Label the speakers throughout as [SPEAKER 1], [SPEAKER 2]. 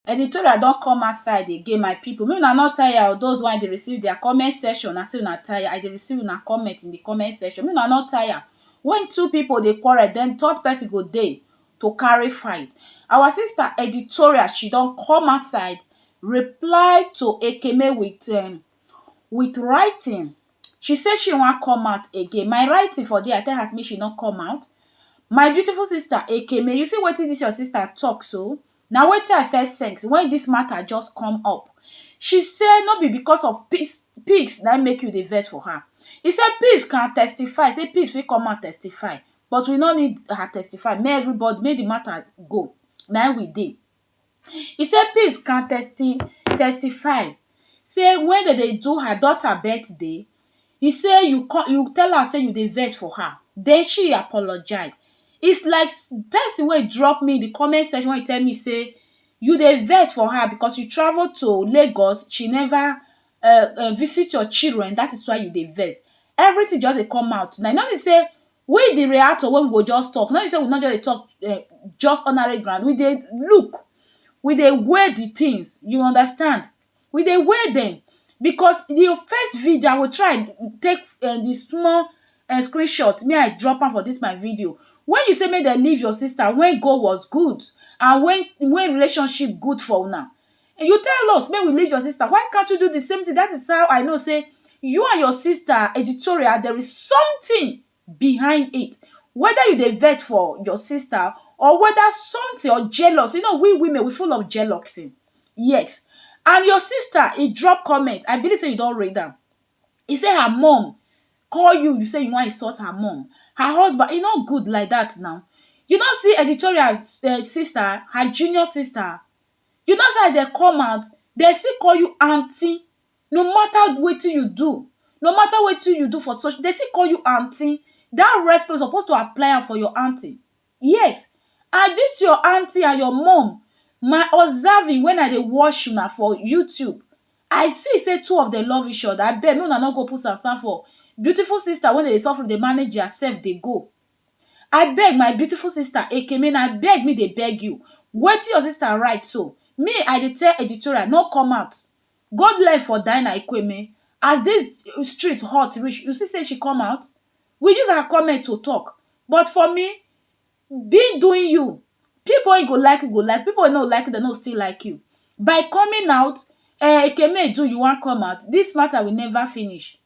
[SPEAKER 1] Editorial don come outside again my people make una no tire o those wey dey receive their comment section na say una tire I dey receive una comment in the comment section make una no tire when two people dey quarrel then third person go dey to carry fight our sister editorial she don come outside reply to Ekeme with um with writing she say she wan come out again my writing for there I tell her say make she no come out my beautiful sister Ekeme you see wetin this your sister talk so Na wetin I first sense when this matter just come up. She say no be because of peace peace na im make you dey vex for her. He say peace can testify say peace fit come out testify but we no need her testify make everybody make the matter go na im we dey. He say peace can testi testify say when dem dey do her daughter birthday e say you call you tell am say you dey vex for her den she apologise is like person wey drop me the comment section wey tell me say you dey vex for her because you travel to Lagos she never um visit your children that is why you dey vex everything just dey come out na you no see say we the reactor wey we go just talk no be say we no just dey talk um just ordinary ground we dey look we dey weigh the things you understand we dey weigh dem because di first video I go try take um di small um screen shot make I drop am for dis my video wen you say make dem leave your sister wen God was good and wen wen relationship good for una you tell us make we leave your sister why can't you do di same thing dat is how I know say you and your sister editorial there is something behind it whether you dey vex for your sister or whether something or jealous you know we women we full of jealousy yes and your sister e drop comment I believe sey you don read am e say her mum call you you say you wan insult her mum her husband e no good like that now you no see editorial sister her junior sister you no see as dem come out dem still call you aunty no mata wetin you do no mata wetin you do for social dey still call you aunty dat respect you suppose to apply am for your aunty yes and dis your aunty and your mum my observing when I dey watch una for YouTube I see sey two of dem love each other abeg make una no go put sand sand for beautiful sister wey dey suffer dey manage their self dey go abeg my beautiful sister ekeme na beg me dey beg you wetin your sister write so me I dey tell editorial no come out God life for Dinah Ikweme as dis street hot reach, you see sey she come out? We use her comment to talk but for me, being doing you, pipu wey go like you go like, pipu wey no go like you, dem no go still like you. By coming out, um Ekeme Edu you wan come out, dis matter will never finish.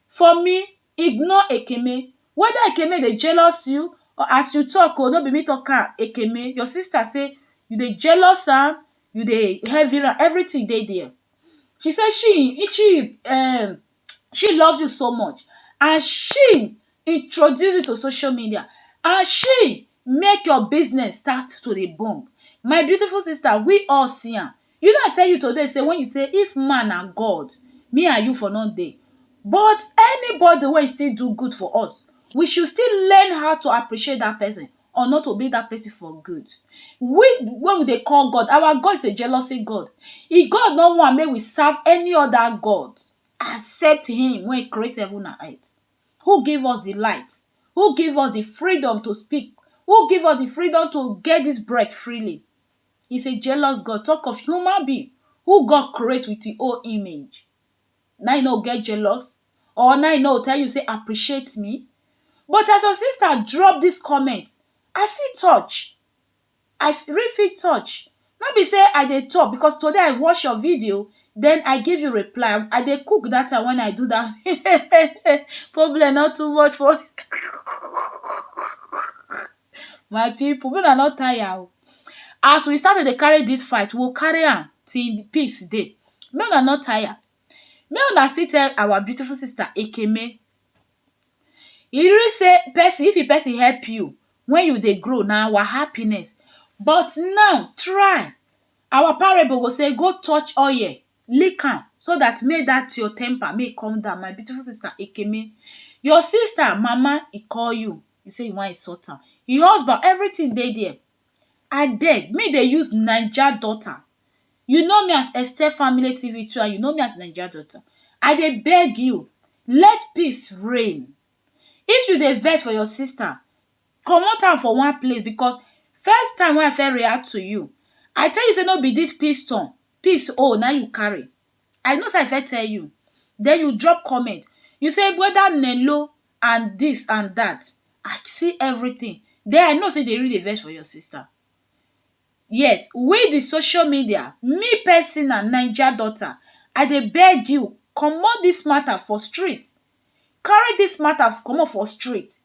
[SPEAKER 1] For me, ignore Ekene. Whether Ekene dey jealous you or as you talk o, no be me talk am, Ekene, your sister say you dey jealous am, you dey heavy am, everything dey there. She say she she um she love you so much and she introduce you to social media and she make your business start to dey boom. My beautiful sister, we all see am. You know I tell you today sey when you sey if man na God me and you for no dey but anybody wey still do good for us we should still learn how to appreciate dat person or not to be dat person for good. We wey we dey call God our God is a jealousy God e God no want make we serve any other God except him wey create heaven and earth who give us the light who give us the freedom to speak who give us the freedom to get dis breath freely He is a jealous God talk of human being who God create with him own image. Now you no get jealous or now you no tell you say appreciate me. But as your sister drop this comment, I feel touch. I really feel touch. No be say I dey talk because today I watch your video, then I give you reply. I dey cook that time when I do that. Problem not too much for My people make una no tire o as we start to dey carry this fight we go carry am till peace dey make una no tire make una still tell our beautiful sister Ekene e really say person if the person help you when you dey grow na our happiness but now try our parable go say go touch oil lick am so dat make dat your temper make e come down my beautiful sister ekene your sister mama e call you e say e wan insult am e husband everytin dey there abeg make dey use naija daughter you know me as Esther family TV too and you know me as naija daughter I dey beg you let peace reign if you dey vex for your sister comot am for one place because first time wey I first react to you I tell you say no be dis piston Peace own na im you carry I know say I first tell you then you drop comment you say whether Nello and this and that I see everything then I know say you dey really dey vex for your sister yet we the social media me personal naija daughter I dey beg you comot this matter for street carry dis mata comot for street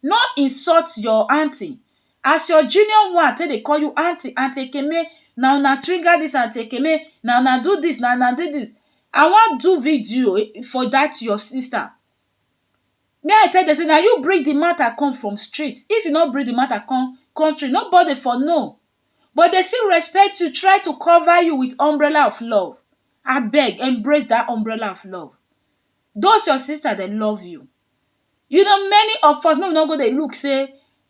[SPEAKER 1] no insult your aunty as your junior one take dey call you aunty, aunty ekeme na una trigger dis aunty ekeme na una do dis na una do dis I wan do video for dat your sister me I tell dem say na you bring di mata come from street if you no bring di mata come come street nobody for know but dey still respect you try to cover you with umbrella of love abeg embrace dat umbrella of love those your sister dem love you you know many of us make we no go dey look sey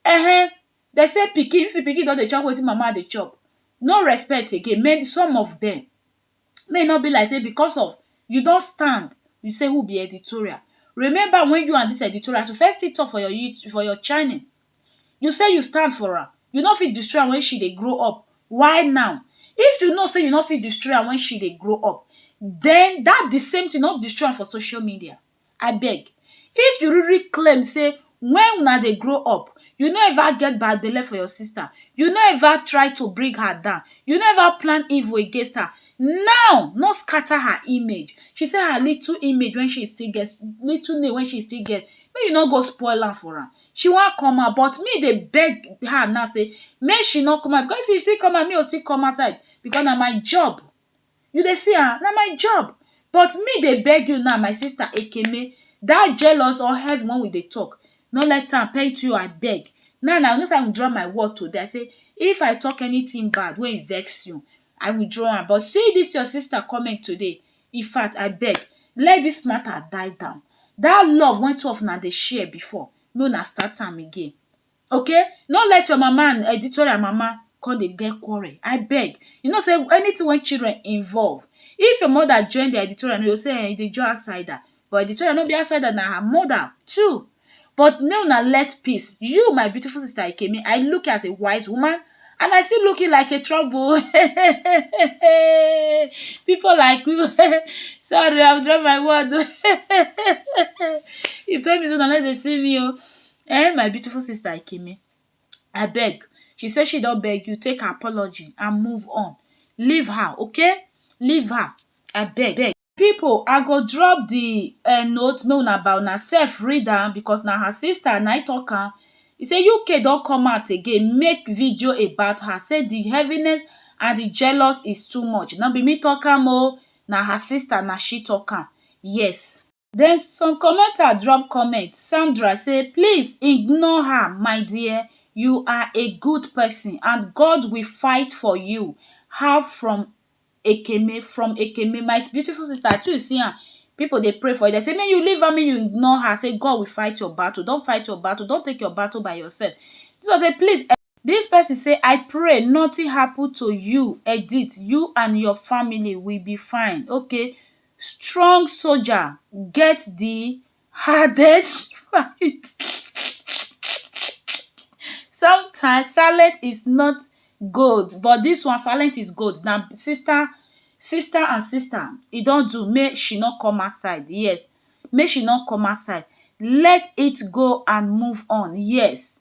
[SPEAKER 1] um dem sey pikin if pikin don dey chop wetin mama dey chop no respect again men some of dem make e no be like sey because of you don stand you sey who be editorial remember when you and dis editorial so first still talk for your you for your channel You say you stand for am, you no fit destroy am wen she dey grow up, why now? If you know sey you no fit destroy am wen she dey grow up, den dat di same tin no destroy am for social media, abeg. If you really claim sey wen una dey grow up, you no ever get bad belle for your sister, you no ever try to bring her down, you no ever plan evil against her, now no scatter her image. She sey her little image wey she still get, little name wey she still get, make you no go spoil am for am. she wan come out but me dey beg her now say make she no come out because if she still come out me go still come outside because na my job you dey see am na my job but me dey beg you now my sister ekene that jealous or heaven wey we dey talk no let am tempt you abeg now na you know say i withdraw my word today i say if i talk anything bad wey vex you i withdraw am but see this your sister comment today Infact abeg let this matter die down that love wey two of una dey share before make una start am again okay no let your mama and editorial mama come dey get quarrel abeg you know say anything wey children involve if your mother join their editorial you go say um you dey join outsider but the children no be outsider na her mother too but make una let peace you my beautiful sister ekemi I look you as a wise woman and I still look you like a trouble people like you sorry I drop my word oh e pain me say una no dey see me oh um my beautiful sister ekemi abeg she say she don beg you take her apology and move on leave her okay leave her abeg people i go drop the um note make una by una self read am because na her sister na im talk am e say UK don come out again make video about her say the heaviness and the jealous is too much no be me talk am o na her sister na she talk am yes then some commenter drop comment Sandra say please ignore her my dear you are a good person and God will fight for you her from Ekeme from Ekeme my beautiful sister I too you see am people dey pray for you dem say make you leave am make you ignore her say God will fight your battle don fight your battle don take your battle by yourself this one say please This person say I pray nothing happen to you edit you and your family will be fine okay strong soldier get the hardest fight sometimes silent is not gold but dis one silent is gold na sister sister and sister e don do make she no come outside yes make she no come outside let it go and move on yes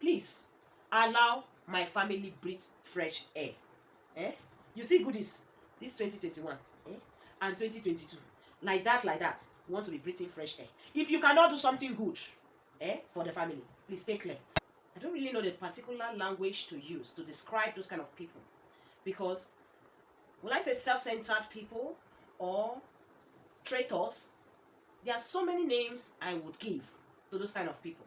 [SPEAKER 1] please allow my family breathe fresh air eh you see goodies this 2021 eh and 2022 like that like that you want to be breathing fresh air if you cannot do something good eh for the family please stay clear i don't really know the particular language to use to describe those kind of people because will i say self-centered people or traitors there are so many names i would give to those kind of people